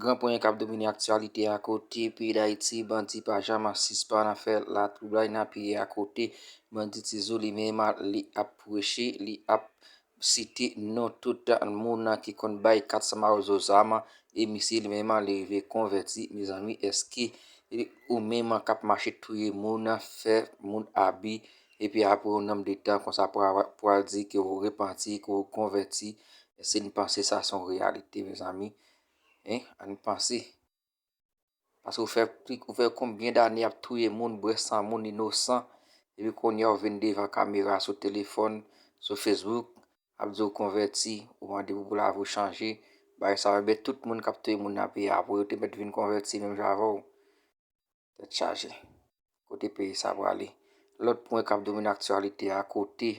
Gran ponyen kap domine aktyalite a kote peyi dayiti bandi pa jama sispann ap fè la twoublay nan peyi a kote bandi tizou li menm li ap preche li ap site non tout moun ki konn bay 400 mawozo zam e misye li menm li rive konvèti mezanmi eske ou menm kap mache touye moun fè moun abi Epi apre yon nonb de tan konsa pou a pou al di ke ou repanti, ke ou konvèti, èske nou panse sa se yon reyalite mezanmi? Hein? An nou panse. Paske ou fè pli, ou fè konbyen dane ap touye moun, bwè san moun inosan, epi kounye a ou vin devan kamera sou telefòn, sou Facebook, ap di ou konvèti, ou mande pou lavi ou chanje, bagay sa yo, enben tout moun kap touye moun nan peyi a pou yo te mèt vin konvèti menm jan avè w. Tèt chaje. Kote peyi sa prale? Lòt pwen kap domine aktyalite a kote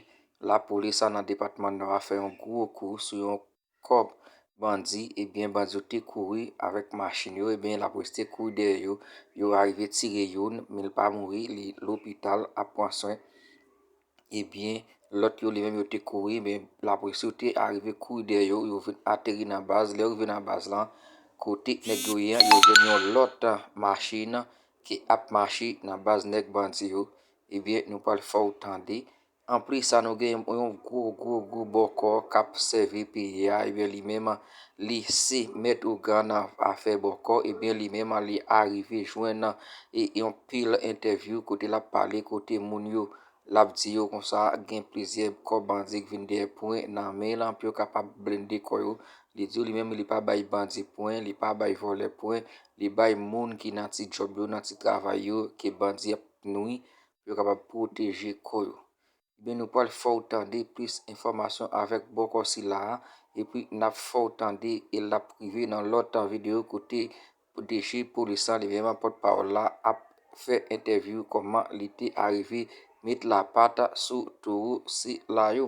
lapolis a nan depatman nò a fè yon gwo kou sou yon kòp bandi ebyen bandi yo te kouri avèk machin yo ebyen lap reste kouri dèyè yo, yo arive tire youn men li pa mouri li lopital ap pran swen Ebyen, lòt yo li menm yo te kouri men lapolis yo te arive kouri dèyè yo, yo vin ateri nan baz. Lè yo rive nan baz lan, kote nèg yo ye an, yo jwenn yon lòt machin ki ap mache nan baz nèg bandi yo. Ebyen, nou pral fè ou tande. Anplis sa nou gen yon gwo gwo gwo bòkò k ap sèvi peyi a, ebyen li menm li se mèt ougan nan afè bòkò ebyen li menm li arive jwenn nan e yon pil entèvyou kote lap pale kote moun yo lap di yo konsa gen plizyè kò bandi k vin dèyè pwen nan men lan pou yo kapab blende kò yo li di yo li menm li pa bay bandi pwen li pa bay vòlè pwen li bay moun ki nan ti djòb yo nan ti travay yo ke bandi ap nwi pou yo kapab pwoteje kò yo Ebyen nou pral fè w tande plis enfòmasyon avèk bòkò sila a epi nap fè w tande e lap rive nan lòt videyo kote DG polis la li menm pòt pawòl la ap fè entèvyou kòman li te arive met lapat sou towo sila yo.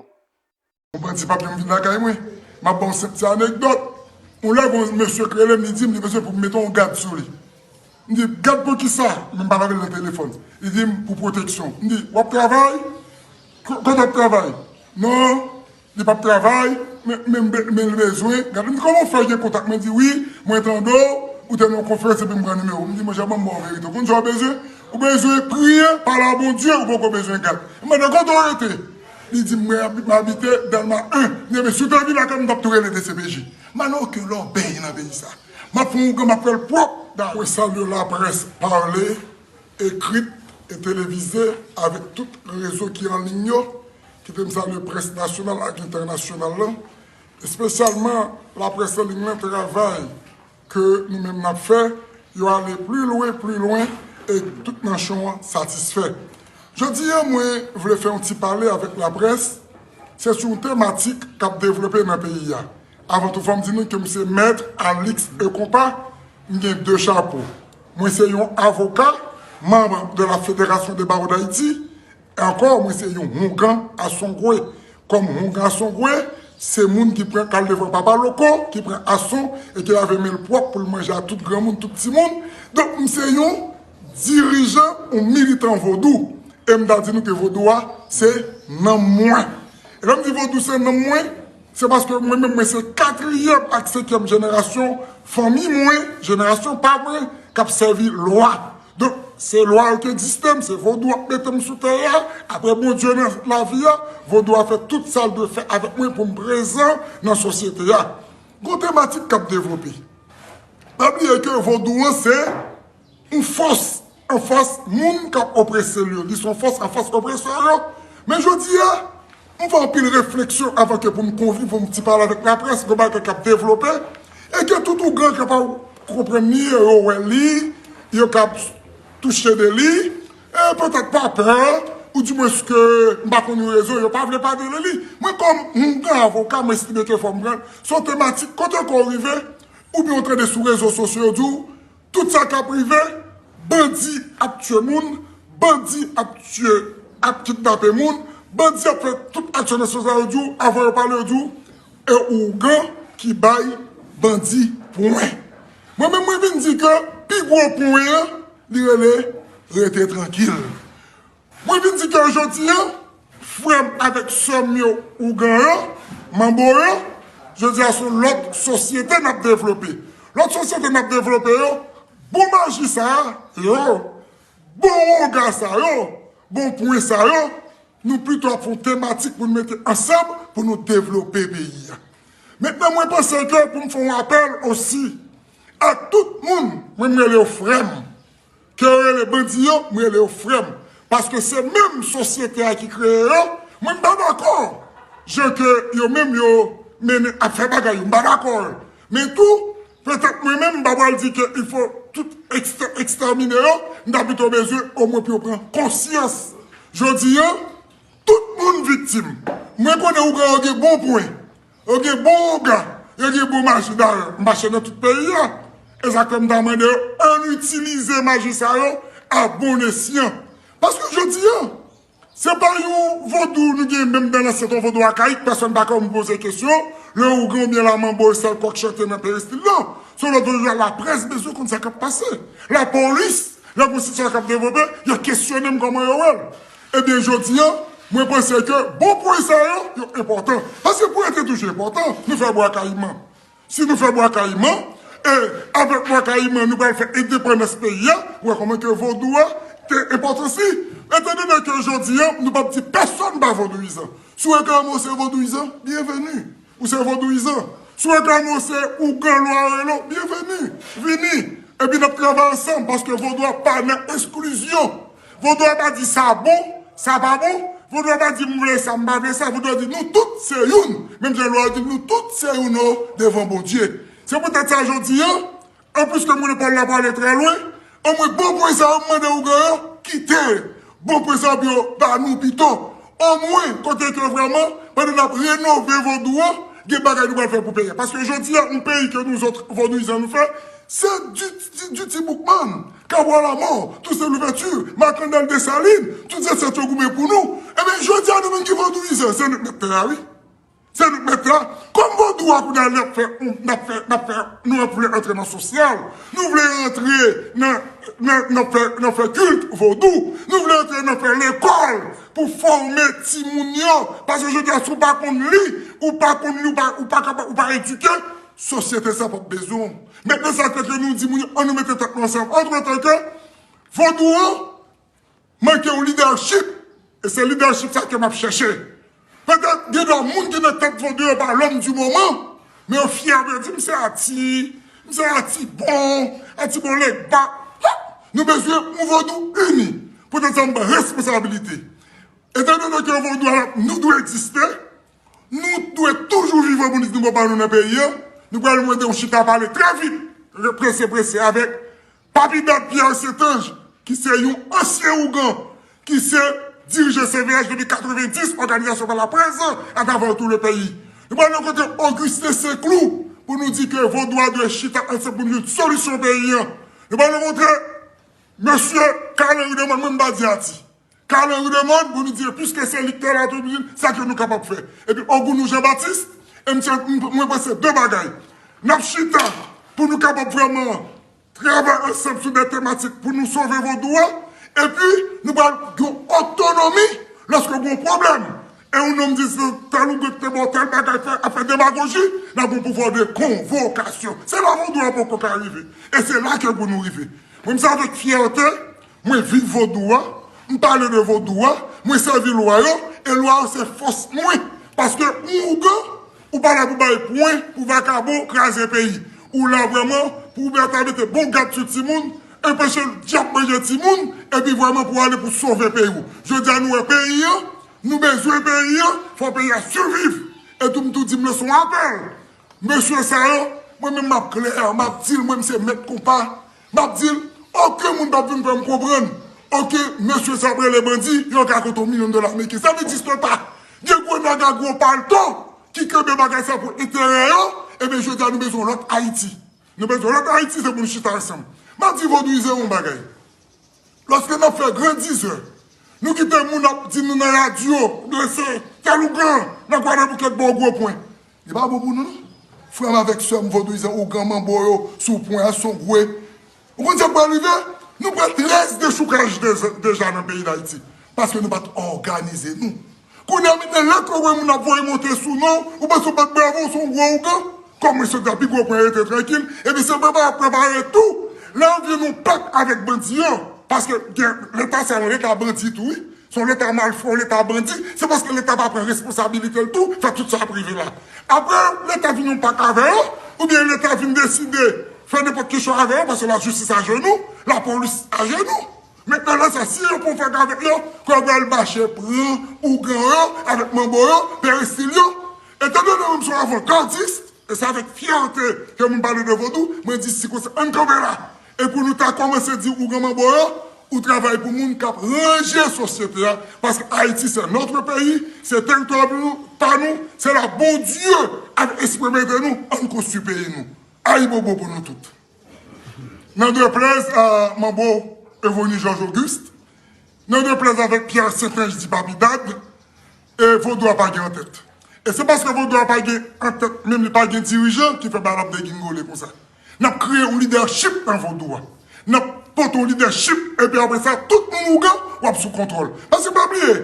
Yon bandi pap janm vin lakay mwen. M ap ba w senp ti anekdòt. Yon lè gen yon mesye ki rele m, li di m li bezwen pou m mete yon gad sou li. M di, Gad pou ki sa? Men m pale avè l nan telefòn. Li di m, Pou pwoteksyon. M di, W ap travay? Kote w ap travay? Non, li pap travay, men l bezwen gad. M di, Kòman w fè gen kontak mwen? Li di, Wi, mwen tande w, ou te nan yon konferans epi m pran nimewo w. M di, Monchè, ban m ba w verite. Ou konn sa w bezwen? Ou bezwen priye, pale a Bondye, ou poko bezwen gad. M mande l, Kote w rete? Li di m mwen ap m abite delma 1 mwen men si w ta vin lakay m m pap tou rele dcpj Manno ke lòbèy nan peyi sa map fè yon ougan map fèl pwòp da. Mwen salye laprès pale, ekrit e televize avèk tout rezo ki an liy yo, kite m salye près nasyonal ak entènasyonal lan, espesyalman laprès an liy lan travay. ke nou menm nap fè yo ale pli lwen pli lwen e ke tout nanchon an satisfè. Jodi an mwen vle fè yon ti pale avèk laprès se sou yon tematik kap devlope nan peyi a. Avan tou fòm di nou ke m se Maître Alix E. Compas, m gen 2 chapo. Mwen se yon avoka, manb de la Fédération des Barreaux d'Haïti Ankò mwen se yon houngan asongwe kòm houngan asongwe se moun ki pran kal devan papa loko ki pran ason e ki lave menl pwòp poul manje a tout granmoun tout timoun donk m se yon dirijan yon militan vodou e m ta di nou ke vodou a se nanm mwen e lèm di vodou se nanm mwen Se paske mwen menm mwen se katriyèm ak senkyèm jenerasyon fanmi mwen, jenerasyon pa mwen, k ap sèvi lwa. Donk, se lwa yo ki egziste m, se vodou ap mete m sou tè a, apre Bondye nan lavi a, vodou a fè tout sa l dwe fè avèk mwen pou m prezan nan sosyete a. Gon tematik k ap devlope. Pa bliye ke vodou an se. Yon fòs anfas moun k ap oprese l yo. Li se yon fòs anfas opresè yo. Men jodi a, m fè anpil refleksyon avan ke pou m konkli, pou m ti pale avèk laprès, gen bagay k ap devlope e ke tout ougan ki pa konprann ni yo, yo wè li, yo ka ap touche de li e petèt pa pè ou di mwens ke m pa konn yon rezon yo pa vle pale de li. Mwen kòm yon gran avoka, m estime ke fò m pran l. Se yon tematik kote ke w rive, oubyen ou tande sou rezo sosyo yo di w, Tout sa kap rive, bandi ap tye moun, bandi ap tye, ap kidnape moun, bandi ap fè tout aksyon nan sans la yo di w, avan yo pale yo di w, e ougan ki bay bandi pwen. Mwen menm mwen vin di ke pi gwo pwen an li rele rete trankil. Mwen vin di ke jodi a, frè m avèk sè m yo ougan yo, manbo yo, jodi a son lòt sosyete n ap devlope. Lòt sosyete n ap devlope yo, bon maji sa a yo, bon wonga sa yo, bon pwen sa yo, nou pito ap fè yon tematik pou nou mete ansanm pou nou devlope peyi a. Mentnan mwen panse ke pou m fè yon apèl osi a tout moun, mwen m rele yo frè m, Kew rele bandi yo m rele yo frèm paske se menm sosyete a ki kreye yo mwen m pa dakò jan ke yo menm yo mennen ap fè bagay yo m pa dakò men tou petèt mwen menm m pa pral di ke il fo tout ekstèmine yo m ta pito bezwen omwen pou yo pran konsyans jodi an tout moun viktim mwen konnen ougan yo gen bon pwen Yo gen bon onga, yo gen bon maji dayè mache nan tout peyi a. E sa k fè m ta mande yo ann itilize maji sa yo a bon esyan. Paske jodi a, se pa yon vodou nou gen menm dan lansyèt, yon vodou akayik, pèsòn pa ka vin poze kesyon lè ougan oubyen lamanbo e sèl kòk chante nan peristil nan. Se yon lòt vodou a laprès bezwen konn sa k ap pase. Lapolis, lè gen yon sitiyasyon k ap devlope, y a kesyonnen m kòman yo wè l. Ebyen jodi a mwen panse ke bon pwen sa yo, yo enpòtan. Paske pwen te toujou enpòtan. Nou fè Bwa Kayiman. Si nou fè Bwa Kayiman, e avèk Bwa Kayiman nou pral fè endepandans peyi a, ou wè kòman ke vodou a te enpòtan si. Etan done ke jodi a nou pap di pèsòn pa vodouyizan. Si w reklame w se vodouyizan, byenveni. Ou se vodouyizan. Si w reklame w se ougan lwa arelo, byenveni. Vini. Epi n ap travay ansanm paske vodou a pa nan esklizyon. Vodou a pa di sa bon, sa pa bon, vodou a pa di m vle sa m pa vle sa, vodou a di nou tout se youn, menm jan lwa yo di nou tout se youn o devan Bondye. Se pou tèt sa jodi an, an plis ke m konnen pawòl la prale trè lwen, anmwe bon pwen sa yo m mande ougan yo kite bon pwen sa yo pou yo ba nou pito, omwen kote ke vrèman pandan n ap renove vodou an gen bagay nou pral fè pou peyi a. Paske jodi an yon peyi ke nouzòt vodouyizan nou fè se di ti boukman. Cabral à mort, Toussaint Louverture, Marc-Andal Dessalines, tout zansèt yo goumen pou nou, ebyen jodi a nou menm ki vodouyizè, se nou k mèt tè a wi. Se nou k mèt tè a. Kòm vodou a kounye a li ap fè n ap fè n ap fè nou ap vle antre nan sosyal, nou vle antre nan nan nan fè nan fè kilt vodou, nou vle antre nan fè lekòl pou fòme timoun yo, paske jodi a si w pa konn li, ou pa konn li ou pa ou pa kapa ou pa edike, sosyete sa p ap bezwen w. Men de sa teke nou di moun yo an nou mete tèt nou ansanm antre tan ke vodou an manke yon lidèchip e se lidèchip sa ke map chèche. Petèt gen dwa moun ki nan tèt vodou yo pa lòm di moman men yo fyè pou yo di m se ati, m se atibon, atibon legba ha! Nou bezwen yon vodou ini. Poutèt sa m pran responsabilite etan done ke vodou a nou dwe egziste Nou dwe toujou vivan pou n di nou gen pa nou nan peyi an. Nou pral mande yon chita pale trè vit, prese prese avèk Papi Dad Pierre Saintange ki se yon ansyen ougan ki se dirije CVH depi 90, òganizasyon pa la près lan atravè tou le peyi. Nou pral nan kote Augustin Senclou pou nou di ke Vodou a dwe chita ansanm pou nou jwenn solisyon peyi an. Nou pral rankontre Mesye Carlin Ruderman mwen m pa di a ti. Carlin Rudemond, Bonidieu, piske se li ki te la, te di, sa ke nou kapab fè? Epi Ogounou Jean Baptiste, e misye, mwen panse de bagay, n ap chita pou nou kapab vrèman travay ansanm sou de tematik pou nou sove vodou a, epi nou pral gen otonomi lòske gen yon pwoblèm, e yon nonm di se tèl oubyen ki te ba w tèl bagay fè, ap fè demagoji, n ap gen yon pouvwa de konvokasyon. Se la vodou a poko ka rive, e se la ke pou nou rive. Mwen m se avèk fyète Mwen viv vodou a, m pale de vodou a, mwen sèvi lwa yo e lwa yo se fòs mwen paske ou ougan ou pa la pou bay pwen pou vakabon kraze peyi ou la vrèman pou ou ta mete bon gad sou timoun enpeche dyab manje timoun epi vrèman pou ale pou sove peyi ou jodi a nou wè peyi an nou bezwen peyi an fò peyi a siviv etou m tou di m lan son apèl mesye sa yo mwen menm m ap klè m ap di l mwen m se mèt konpa. Map dil oken moun pap vin fèm konprann ok mesye sa ap rele bandi yon ka konte yon milyon dola ameriken sa vle di swen pa gen gwo nèg a gwo palto ki kenbe bagay sa pou enterè yo ebyen jodia nou bezwen yon lòt ayiti nou bezwen yon lòt ayiti se pou nou chita ansanm map di vodouizè yon bagay. Lòske nan fè gran dizè, nou kite moun ap di nou nan radyo, blese, fè lougan, nan Gwadeboukèt ba w gwo pwen. Li pa bon pou nou non. Frè m avèk sè m vodouyizan ougan manbo yo sou pwen an son gwe. Ou konn sa k pral rive? Nou pran 13 dechoukaj deja nan peyi Dayiti paske nou pa t òganize nou. Kounye a mete lèt ou wè moun ap voye monte sou non ou panse ou bat bravo ou se yon gwo ougan kòm ou se ta pi gwo pwen rete trankil epi se prepare ap prepare tou lè yo vin yon pèp avèk bandi yo paske gen leta sa yon leta bandi tou wi se yon leta malfra yon leta bandi se paske leta pa pran responsabilitel tou fè tout sa ap rive la aprè leta vin yon pak avè yo oubyen leta vin deside fè nenpòt kesyon avè yo paske lajistis ajenou lapolis ajenou Mentnan la sa si yo pran fak avek yo kòl pral mache pran ougan yo avek manbo yo perestil yo etan donnen mwen m son avankadist e se avek fyète ke mwen pale de vodou mwen di si konsa ann kanpe la e pou nou ta kòmanse di ougan manbo yo ou travay pou moun kap ranje sosyete a paske ayiti se notre peyi se teritwa pa nou se la bondye ap espremete nou ann konstwi peyi nou ayibobo pou nou tout. Nan deplèz a manbo Evony George Auguste, nan deplèz avèk Pierre St-Ange di Papi Dad, e vodou a pa gen antèt. E se paske vodou a pa gen antèt menm li pa gen dirijan ki fè bagay la ap degingole konsa. N ap kreye yon lidèchip nan vodou a. N ap pote yon lidèchip epi apre sa tout moun ougan w ap sou kontwòl. Paske pa bliye,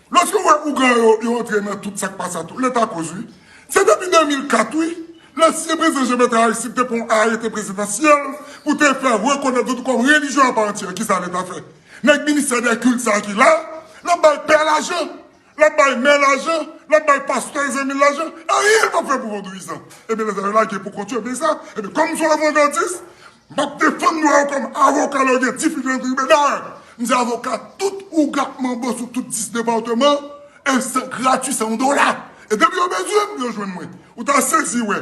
lòske w wè ougan yo yo antre nan tout sa k pa sa tou, leta koz wi. Se depi 2004 wi, lansyen prezidan Jean Bertrand Aristide te pran yon arete prezidansyèl pou te fè rekonèt Vodou kòm relijyon apa antyè. Kisa leta fè? Nèg ministè dè kilt sa ki la, lap bay pè lajan, lap bay mè lajan, lap bay pastè zanmil lajan, anyen yo pap fè pou vodouyizan. Ebyen lè sa yo lage pou kont yo byen sa, ebyen kòm son avangardis, Map defann dwa yo kòm avoka lè yo gen difikilte nan tribinal. M se avoka tout ougan manbo sou tout 10 departeman e se grati san yon dola. E depi yo bezwen m, yo jwenn mwen. Ou ta sezi wè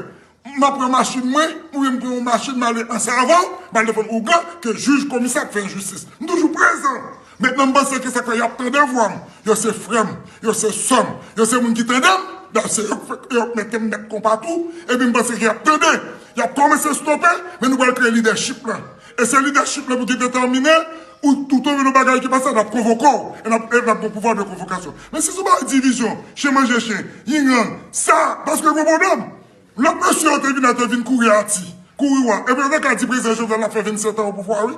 m ap pran machin mwen oubyen m pran yon machin m ale an savann m al defann ougan ke jij komisè ap fè enjistis. M toujou prezan. Maintenant m panse ke sak fè yap tande vwa m, yo se frè m, yo se sè m, yo se moun ki tande m, dayè se yo k fè yo k mete m mèt konpa tou, epi m panse ke yap tande, yap kòmanse stope, men nou pral kreye lidèchip lan. E se lidèchip lan pou ki detèmine ou tou tonbe nan bagay ki pa sa nap konvoke w, e nap gen pouvwa de konvokasyon. Men si se bagay divizyon, chen manje chen, yin yang, sa, paske gen pwoblèm. Lòt mesye yo te vin la te vin kouri ati, kouri wa, epi yo te ka di prezidan Jovenel ap fè 27 an opouvwa wi.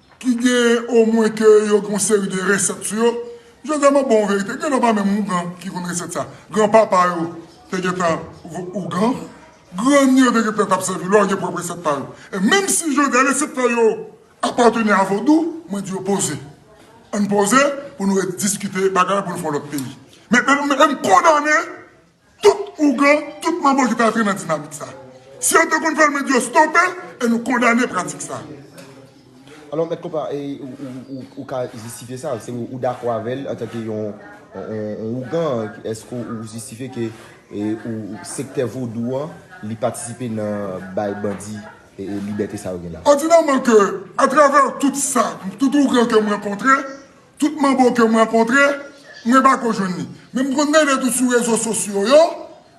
ki gen omwen ke yo gen yon seri de resèt sou yo, yo tèlman bon anverite, gen lè pa menm ougan ki konn resèt sa, gran papa yo te gen tan ougan, grann yo te gen tan t ap sèvi lò, yo gen pwòp resèt pa yo. E menm si jodi a resèt pa yo apateni a vodou, mwen di yo poze, ann poze pou nou rediskite bagay la pou nou fè yon lòt peyi. Men m kondane Tout ougan, tout manbo ki te antre nan dinamik sa. Si yo te konn fè l mwen di yo stope l e nou kondane pratik sa. Alò mèt konpa ou ka jistifye sa, se ou dakò avè l antanke yon ougan, eske ou jistifye ke sektè vodou an li patisipe nan bay bandi libète sa yo gen la? Òdinèman ke atravè tout sa, tout ougan ke m rankontre, Tout manbo kem rankontre mwen pako jwenn li men m konn mele tou sou rezo sosyo yo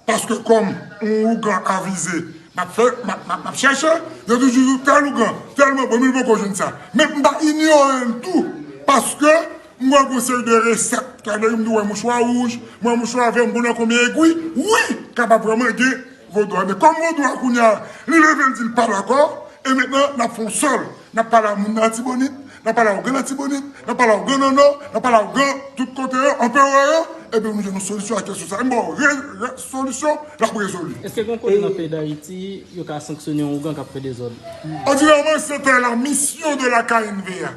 paske kòm on ougan avize map fè map chèche yo toujou di tèl ougan tèl manbo men m poko jwenn sa men m pa inyorel tou paske m wè gon seri de resèt m wè mouchwa wouj m wè mouchwa vè m konnen konbyen egwi wi kapab vrèman gen Vodou a men kòm vodou a kounye a li leve li di li pa dakò e mentnan nap fè yon sèl nap pale a moun nan atibonit nap pale a ougan atibonit nap pale a ougan nan nò nap pale a ougan tout kote yo anperè yo ebyen nou jwenn yon solisyon a kesyon sa a m ba w re solisyon lap rezoli. Eske gen kote nan peyi dayiti yo ka sanksyone yon ougan kap fè dezòd? Òdinèman se te la mission de la knva.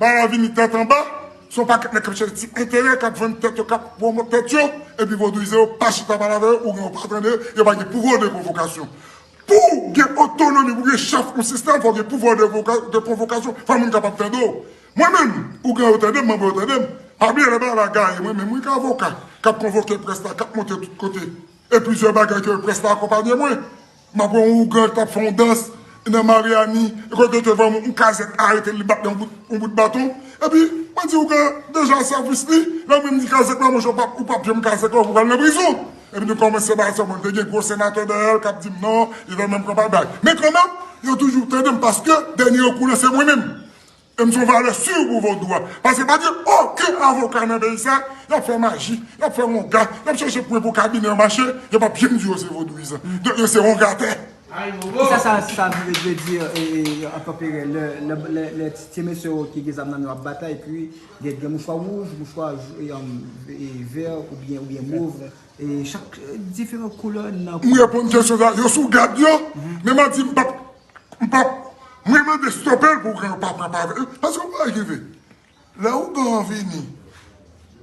Bala vini tèt anba, son pakèt nèg kap chèche ti enterè kap vann tèt yo kap pwomot tèt yo epi vodouize yo pa chita pale avè yo oubyen yo pa tande yo pa gen pouvwa de konvokasyon pouw gen otonomi pou gen chèf yon sistèm fòw gen pouvwa de konvokasyon fò moun kapab tande w mwen menm ougan yo tandem manbo yo tandem pa bliye lè bala gaye mwen menm wi ki avoka kap konvoke près la kap monte tout kote e plizyè bagay ke près la akonpanye mwen Map wè yon ougan ki tap fè yon dans nan Mariani e kote yo te vè yon kazèk arete li bat li yon bout baton epi mwen di ougan deja sèvis li lè menm di kazèk la monchè ou pap janm kazèk ou pral nan prizon epi nou kòmanse bay sèman te gen gwo senatè dèyèl kap dim non li vè menm konpa bay men kanmenm yo toujou tandem paske dènye rekou lan se mwen menm. M son valè sur pou vodou a. Paske pa gen oken avoka nan peyi sa, yap fè maji, yap fè wonga, yap chèche pwen pou kabinè yo mache, yo pap janm di yo se vodouyizan. Donk yo se wongatè. Kisa sa sa vle di an tanpere lè ti mesye yo ki gen zam nan yo ap batay epi gen mouchwa wouj, mouchwa vè oubyen mov e chak diferan koulè nan. M reponn kesyon sa, yo sou gad yo, men map di m pap M pap Mwen mande stopel pou ougan pa pran pa vre paske yon bagay ki vre lè ougan an vini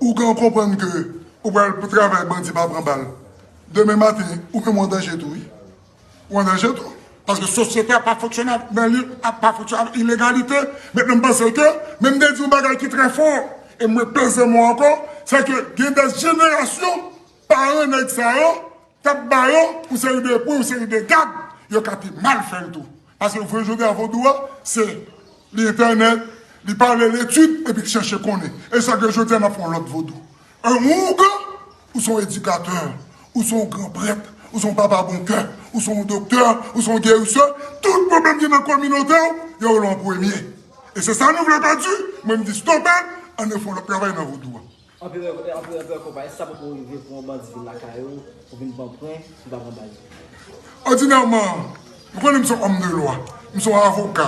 ougan konprann ke ou pral pou travay bandi pa pran bal demen maten ou menm ou andanje tou wi ou andanje tou paske sosyete a pa fonksyone nan li a pa fonksyone avèk ilegalite men m panse ke men m te di yon bagay ki trè fò e mwen peze mo ankò se ke gen dè jenerasyon paran nèg sa yo. Tap ba yo yon seri de pwen, yon seri de gag, yo ka te mal fè l tou. Paske nou konnen jodi a vodou a, se li entènèt, li pa ale letid epi chèche konnen. E sa ke jodi a n ap fè yon lòt vodou. Yon ougan, ou se yon edikatè, ou se yon gran prèt, ou se yon papa bon kè, ou se yon doktè, ou se yon gerisè, tout pwoblèm ki nan kominote w, yo wè l an premye. E se sa nou vle pèdi, mwen m di stope l, ann nou fè yon lòt travay nan vodou a. Anpi anpi anpi anko pa gen sa poko rive pou yon bandi vin lakay ou pou vin pran pwen li pa pran bal. Òdinèman, nou konnen m se yon òm de lwa, m se yon avoka,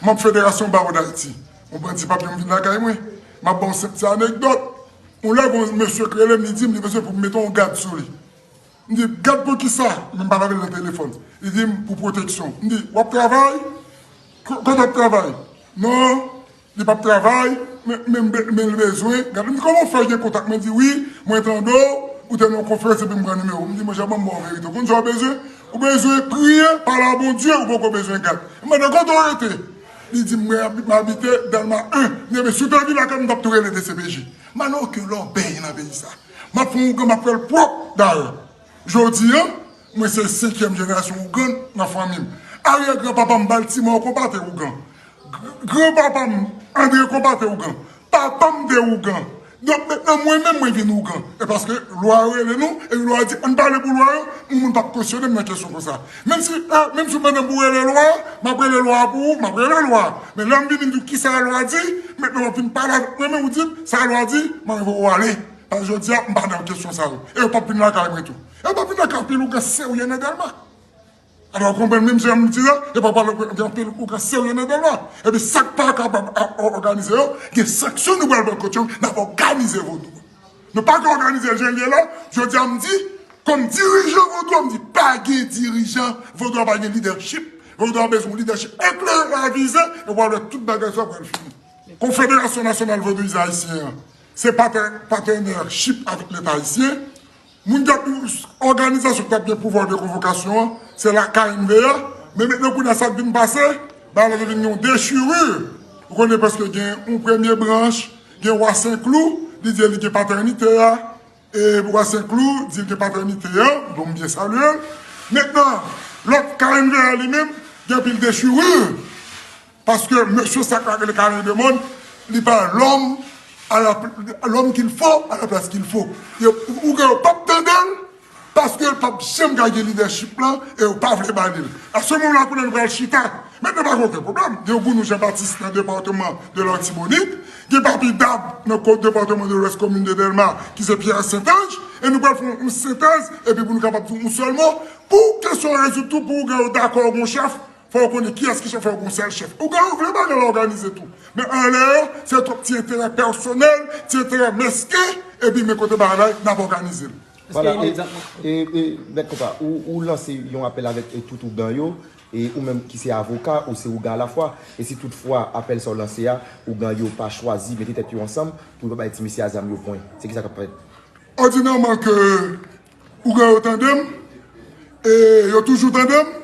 manb Federasyon Bawo Dayiti. Yon bandi pap janm vin lakay mwen. M ap ba w senp ti anekdòt. Yon lè gen yon mesye ki rele m, li di m li bezwen pou m mete yon gad sou li. M di, gad pou ki sa? Men m pale avè l nan telefòn. Li di m, pou pwoteksyon. M di, w ap travay? Kote w ap travay? Non. Li pap travay men li bezwen gade m di koman w fè gen kontak mwen di wi mwen tande w ou te nan yon konferans epi m pran nimewo w m di monchè ban m ba w verite w konn sa w bezwen ou bezwen priye pale a Bondye ou poko bezwen gad m mande kote w rete li di m mwen abite Dèlma 1 m di ebyen si w te vin lakay m m tap tou rele dcpj m a nan oken lòbèy nan peyi sa map fon ougan map fè l pwòp dayè. Jodi a, mwen se senkyèm jenerasyon Ougan nan fanmi m. Aryè gran papa m Baltimore Konpa te Ougan. Gran papa m Andre Konpa te Ougan. Papa m te Ougan. Donk mentnan mwen menm mwen vin Ougan. E paske lwa yo rele nou, e pi lwa yo di ann pale pou lwa yo, yon moun pap kesyone m nan kesyon konsa. Menm si a, menm si ou mande m pou rele lwa, m ap rele lwa a pou ou, m ap rele lwa a. Men lè m vini m di w kisa lwa di, mentnan w ap vin pale avèk mwen men ou di m sa lwa di, m anvi wè ou ale. An jodia m pa nan kesyon sa yo. E yo pap vin lakay mwen tou. E yo pap vin lakay anpil ougan serye nan Dèlma. Alò ou konprann menm jan m di la, yo pap pale gen anpil ougan serye nan Dèlma. Epi sa k pa kapab òganize yo, gen sanksyon nou pral pran kont yo, n ap òganize vodou an. Nou pa ka òganize l jan l ye la, jodia m di, kòm dirijan vodou an, m di pa gen dirijan, vodou an pa gen lidèchip. Vodou an bezwen yon lidèchip eklere, avize, epi w al wè tout bagay sa yo pral fini. Konfederasyon Nasyonal Vodouyizan Ayisyen an, Se patenèchip avèk leta ayisyen. Moun ki ap di òganizasyon ki t ap gen pouvwa de konvokasyon an, se la knva. Men metnen kounye a sa k vin pase, bagay la te vin gen yon dechirur. Ou konnen paske gen yon premye branch, gen wa Senklou, li di li gen patènite a. E bwa se klou, dil gen patènite an, bon m byen salyel. Mentnan, lòt knva a li menm, gen anpil dechirur, paske mesye sa ka rele Karen Demond, li pa lòm ala lòm kil fo a la plas kil fo. Yo ou gen yo pap tande l, paske l pap janm ka gen lidèchip lan e yo pa vle ba li l. A se moman kounye a li pral chita. Mentnan pa gen oken pwoblèm, gen Gounou Janbatis nan departeman de l'Artibonite. Gen papi dab nan kont Departement de l'Ouest komin de Delma ki se Pierre St-Ange e nou pral fè yon sentèz epi pou nou kapab di yon sèl mo pou kesyon an rezoud tou pou ougan yo dakò ou gon chèf fò yo konnen kiyès ki chèf fò yo gon sèl chèf ougan yo vle bagay la òganize tou men anlè an se twòp ti enterè pèsonèl ti enterè mesken epi men kote bagay la ye nap òganize l. Vwala e e mèt konpa ou lanse yon apèl avèk tout ougan yo E ou menm ki se avoka, ou se ougan alafwa, e si tout fwa apèl sa ou lanse a, ougan yo pa chwazi mete tèt yo ansanm pou yo pa bay ti mesye a zam yo pwen, se ki sa k ap fèt? Òdinèman ke ougan yo tande m, e yo toujou tande m,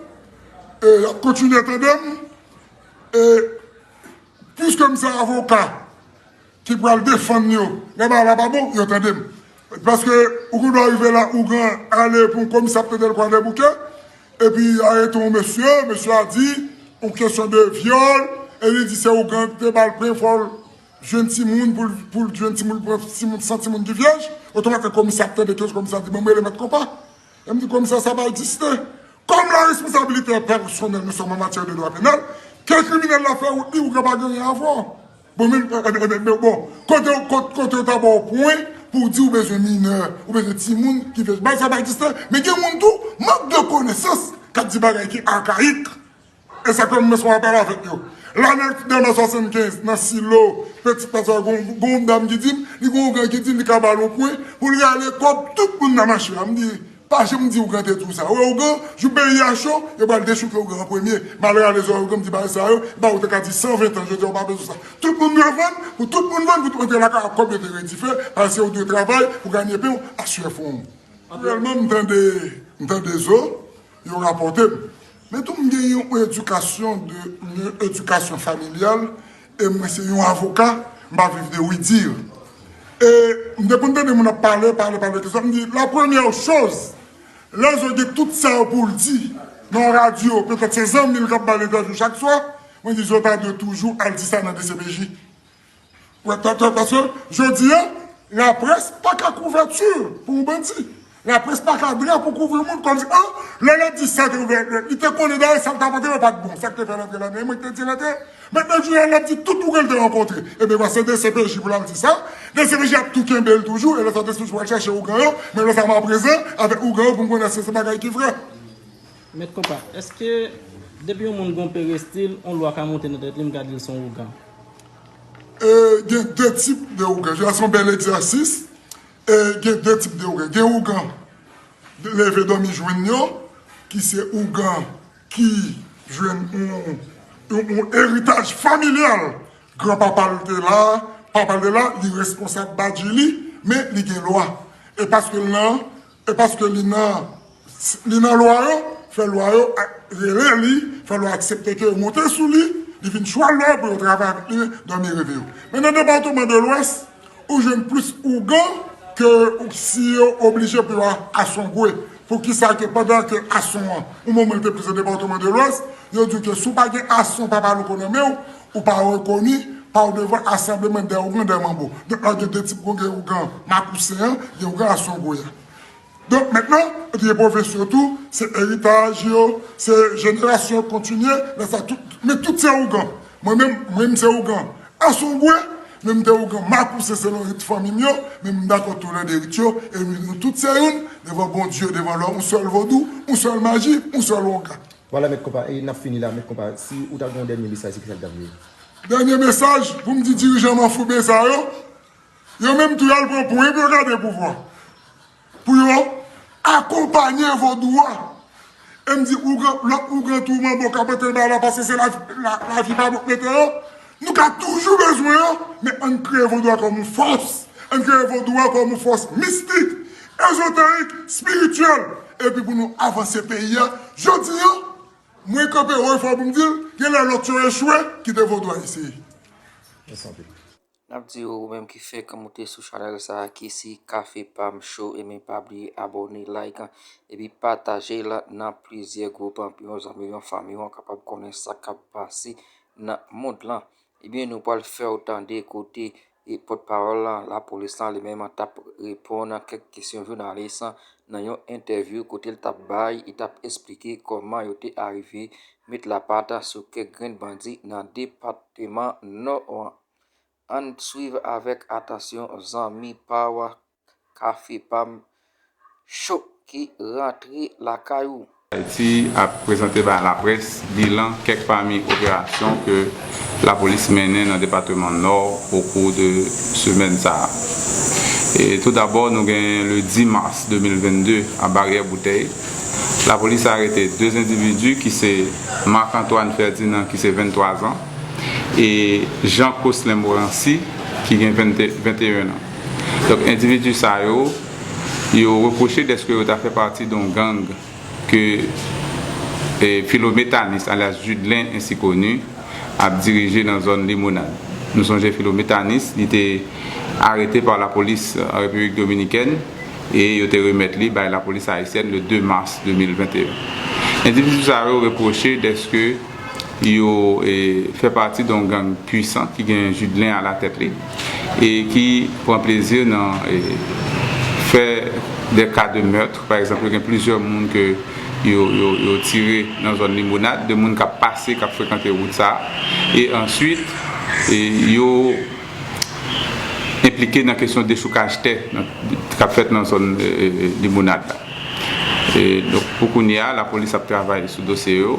e y ap kontinye tande m, e pwiske m se avoka, Ki pral defann yo lè bagay la pa bon yo tandem paske ou gen dwa rive la ougan ale pou yon komisè ap tandel kwa dèboukè epi yo arete yon mesye mesye a di yon kesyon de vyòl e li di se ougan kite bal pen fòl jwenn timoun poul t jwenn timoun poul pran timoun san timoun ki vyèj otomatik komisè ap tande kes komisè di banm rele mèt konpa em di komisè sa pa egziste kòm la responsabilite pèsonèl nou sòm an matyè de dwa penal ke kriminèl la fè ou t di ougan pa gen anyen avèw. Bon men bon kotew ta baw pwen pouw di ou bezwen minè ou bezwen timoun ki fèt bay sa bay distè men gen moun tou mank de konesans kap di bagay ki akayik esak fè mwen sonje apal avèk yo lane 1975 nan silo petit plaza gonw dam ki dim li gonw gran ki dil li ka bal on pwen poul rale kob tout moun nan mache a mdi Pa janm di ougan te di w sa. Ou wè ougan, jou peyi a cho, yo pral dechouke ougan an premye. Malè ale zòrèy ougan m di bagay sa yo, epa ou te ka di 120 tan, jodi a ou pa bezwen sa. Tout moun dwe vann, pou tout moun vann pou t rantre lakay ak kòb yo te redife, paske ou dwe travay pou ganye pen w a syè fwon w. Reyèlman m tande, m tande zo, yo rapòte m. Men tou m gen yon edikasyon de, yon edikasyon familyal E mwen se yon avoka, m pa viv de oui dire. E m te konn tande moun ap pale, pale, pale de sa, m di la premyè choz, lè zo gen tout sa yo pou l di nan yon radyo, petèt se zanmi l k ap ba l entèvyou chak swa, mwen di zo ta dwe toujou al di sa nan dcpj. Paske jodi a, laprès pa ka kouvèti pou yon bandi. Laprès pa ka vini pou kouvri moun kòmsi an lè lòt di sa te ouvè lè li te konnen dayè sa l t ap antre yo pa t bon sa k te fè l antre la menm mwen k te di l antre men nan jounen an l ap di tout ouvriye l te rankontre ebyen vwa se dcpj pou l al di sa dcpj ap tou kenbe l toujou e lè sa dcpj pral chache ougan yo men lè sa m a prezan avèk ougan yo pou m konnen èske se bagay ki vrè. Mèt konpa, èske depi yon moun gen yon perestil yon lwa ka monte nan tèt li m ka di l se yon ougan? Gen 2 tip de ougan, jè a se yon bèl egzèsis E gen 2 tip de ougan. Gen ougan leve dòmi jwenn yo, ki se ougan ki jwenn yon eritaj familyal. Gran papa l te la, papa l te la, li responsab badji li, men li gen lwa. E paske l nan, e paske li nan. Li nan lwa yo, fè lwa yo rele li, fè lwa aksepte ke yo monte sou li, li vin chwal lwa yo pou yo travay avèk li dòmi reve yo. Men nan depatman de lwès, ou jwenn plis ougan ke si yo oblije pou yo asongwe. Pou ki sa ke pandan ke ason an, ou moun moun te plis nan depatman de lwès, yo di ke si ou pa gen ason papa louko nan men ou, ou pa rekoni, pa ou devan asambleman dè ougan dè manbo. Donk la gen de tip ougan, gen ougan makousen an, gen ougan asongwe an. Donk mentnan yo te gen pwovens yo tou, se eritaj yo, se jenerasyon kontinye, lè sa tout, men tout se ougan. Mwen menm, mwen m se ougan Asongwe, men m te ougan Makouse selon rit fanmi m yo, men m dakò tou lè de rit yo, e m di nou tout se youn, devan Bondye, devan lò, yon sèl vodou, yon sèl maji, yon sèl ougan. Vwala mèt konpa, e n ap fini la mèt konpa, si ou ta gen yon dènye mesaj se ki sa l ta vle ye? Dènye mesaj pou m di dirijan manfouben sa yo, Yo menm tou yal pran pwen epi yo gade pouvwa pou yo akonpanye vodou a. E m di ougan, lòt ougan tou manbo k ap antre nan bagay la pase se lavi pa bòk mete yo. Nou ka toujou bezwen yo, men ann kreye vodou a kòm yon fòs. Ann kreye vodou a kòm yon fòs mistik, ezoterik, espirityèl epi pou nou avanse peyi a. Jodi an, mwen kanpe wo e fò pou m di l, gen lè lòt yo echwe, kite vodou a eseye. Mèsi anpil. Nap di yo ou menm ki fèk moute sou chanèl sa ki si kafe pam cho enben pa bliye abòne like epi patajel nan plizyè gwoup pou yon zanmiw yon fanmiw an kapab konnen sa kap pase nan mond lan ebyen nou pwal fèw tande kote e pòt pawòl lan lapolis lan li menm tap reponn a kèk kesyon jounalis nan yon entèvyou kotel tap bay e tap esplike kòman yo te arive met lapat sou kèk grenn bandi nan depatman nò an. Ann swiv avèk atansyon zanmi paw kafe pam cho ki rantre lakay ou. Ayiti ap prezante bay laprès bilan kèk pami operasyon ke lapolis mennen nan depateman Nò okou de semèn sa a. Tou dabò nou genyen le 10 mas 2022 a Baryè Boutèy, lapolis arete 2 endividi ki se Marc Antoine Ferdinand ki se 23 zan, e Jean Coslin Morancy ki gen 21 an. Donk endividi sa yo, yo repwoche dèske yo ta fè pati don gang ke Philo Métanis alyas Judelin ensi koni ap dirije nan zòn Limonad. Nou sonje Philo Métanis li te arete pa lapolis Repiblik Dominikèn e yo te remèt li bay lapolis ayisyèn le 2 mas 2021. Endividi sa yo repwoche dèske. Yo fè pati don gang pwisan ki gen Judelin a latèt li e ki pran plezi nan fè dè ka de meurtre. Pa egzanp, yo gen plizyè moun ke yo tire nan zòn Limonad, de moun k ap pase, k ap frekante wout sa a. E answit, yo enplike nan kesyon dechoukaj tè k ap fèt nan zòn Limonad la. Donk, pou kounye a, lapolis ap travay sou dosye yo.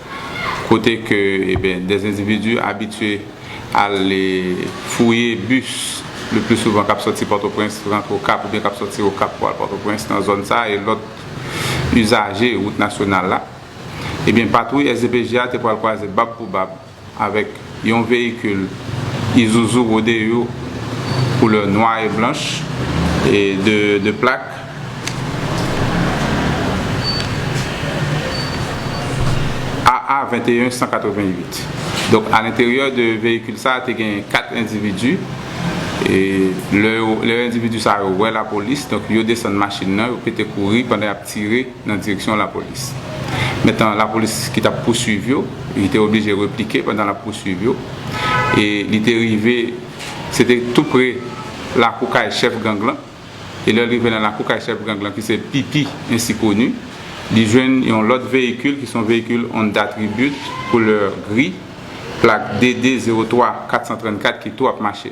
kote ke des individus abitye al fouye bus le plus souvent kap sòti Pòtoprens rantre Okap oubyen kap sòti Okap pou al Pòtoprens nan zòn sa e lòt usaje wout nasyonal la ebyen patwouy SDPJ a te pwal kwaze bab pou bab avèk Yon veyikil Isuzu Rodeo koulè nwa e blanch e de plak. AA 21 188. Donk a lenteryè de veyikil sa te gen 4 endividu e lè endividu sa yo wè lapolis donk yo desann machin nan yo pete kouri pandan yap tire. nan direksyon lapolis. Metan lapolis ki t ap pousuiv yo, li te oblije replike pandan l ap pousuiv yo e li te rive se te tou pre lakou kay chèf gang lan e lè l rive nan lakou kay chèf gang lan ki se Pipi ensi koni, li jwenn yon lòt veyikil ki se yon veyikil Honda Tribute koulè gri plak DD 03434 ki tou ap mache.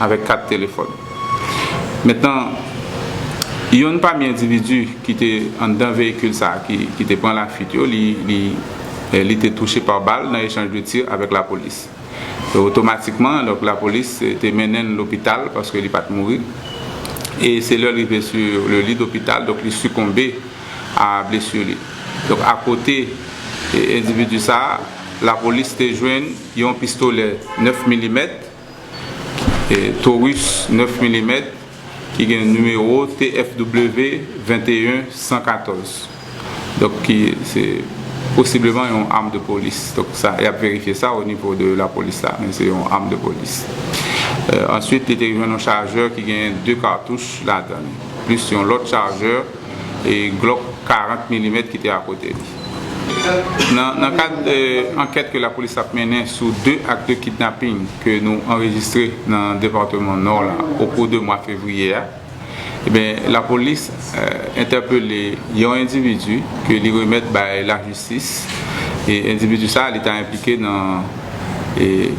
avèk kat telefòn. Mentnan, yonn pami endividi ki te anndan veyikil sa a ki te pran lafuit yo, li te touche pa bal nan echanj de tir avèk lapolis. Otomatikman, donk lapolis te mennen l lopital paske li pa t mouri. E se lè l rive sou le lit d'hôpital, donk li sikonbe a blesur li. Donk akote endividi sa a, lapolis te jwenn yon pistolè 9 milimèt, Taurus 9 milimèt ki gen nimewo TFW 21 114 donk ki se posibleman yon am de polis donk sa yap verifye sa o nivo de la polis la men se yon am de polis answit li te jwenn yon chajè ki gen 2 katouch ladann plis yon lòt chajè. e Glock 40 milimèt ki te akote li. Nan kad ankèt ke lapolis ap mennen sou 2 ak de kidnaping ke nou anrejistre nan departeman Nò la okou de mwa fevriye a, lapolis entèpele yon endividu ke li remèt bay lajistis e endividu sa li ta enplike nan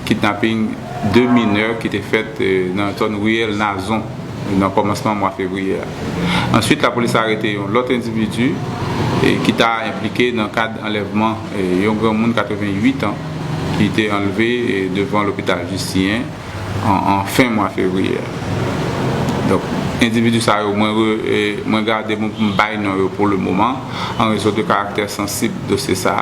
kidnaping 2 minè ki te fèt nan zòn riyèl Nazon. nan kòmansman mwa fevriye a. Answit lapolis arete yon lòt endividi ki ta enplike nan kad anlèvman yon granmoun 88 an ki te anlve devan lopital Jistinyen an fen mwa fevriye a. Donk endividi sa yo mwen gade mwen pou m bay non yo pou le moman an rezon de karaktè sansib dosye sa.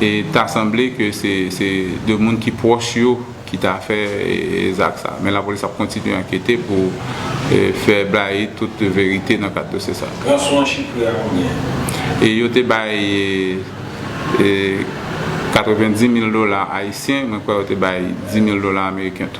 e ta sanble ke se 2 moun ki pwòch yo ki ta fè zak sa. Men lapolis ap kontinye ankete pou fè blayi tout verite nan kad dosye sa. Ranson an chifre a konbyen? Yo te bay 90 mil dola ayisyen, mwen kwè yo te bay 10 mil dola ameriken tou.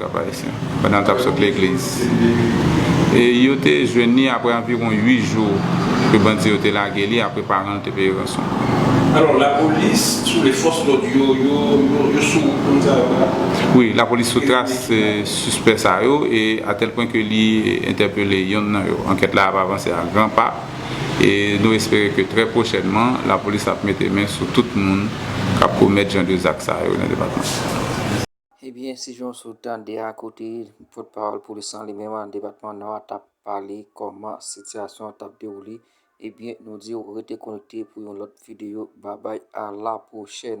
Kapayisyen, pandan l t ap sot legliz. E yo te jwenn li apre anviwon 8 jou ke bandi yo te lage li apre paran l te peye ranson. Alò, lapolis sou le fòs lòd yo, yo sou wout moun sa yo la? Wi, lapolis sou tras sispè sa yo e atèl pwen ke li entèpele yonn nan yo. Ankèt la ap avanse a gran pa e nou espere ke trè pwochènman lapolis ap mete men sou tout moun k ap komèt jan de zak sa yo nan depatman. Ebyen si jan w sot tande a kote pot pawol polis lan li menm nan depatman nò a tap pale koman sitiyasyon an tap dewoule ebyen nou diw rete konekte pou yon lot videyo babay a la pwochèn.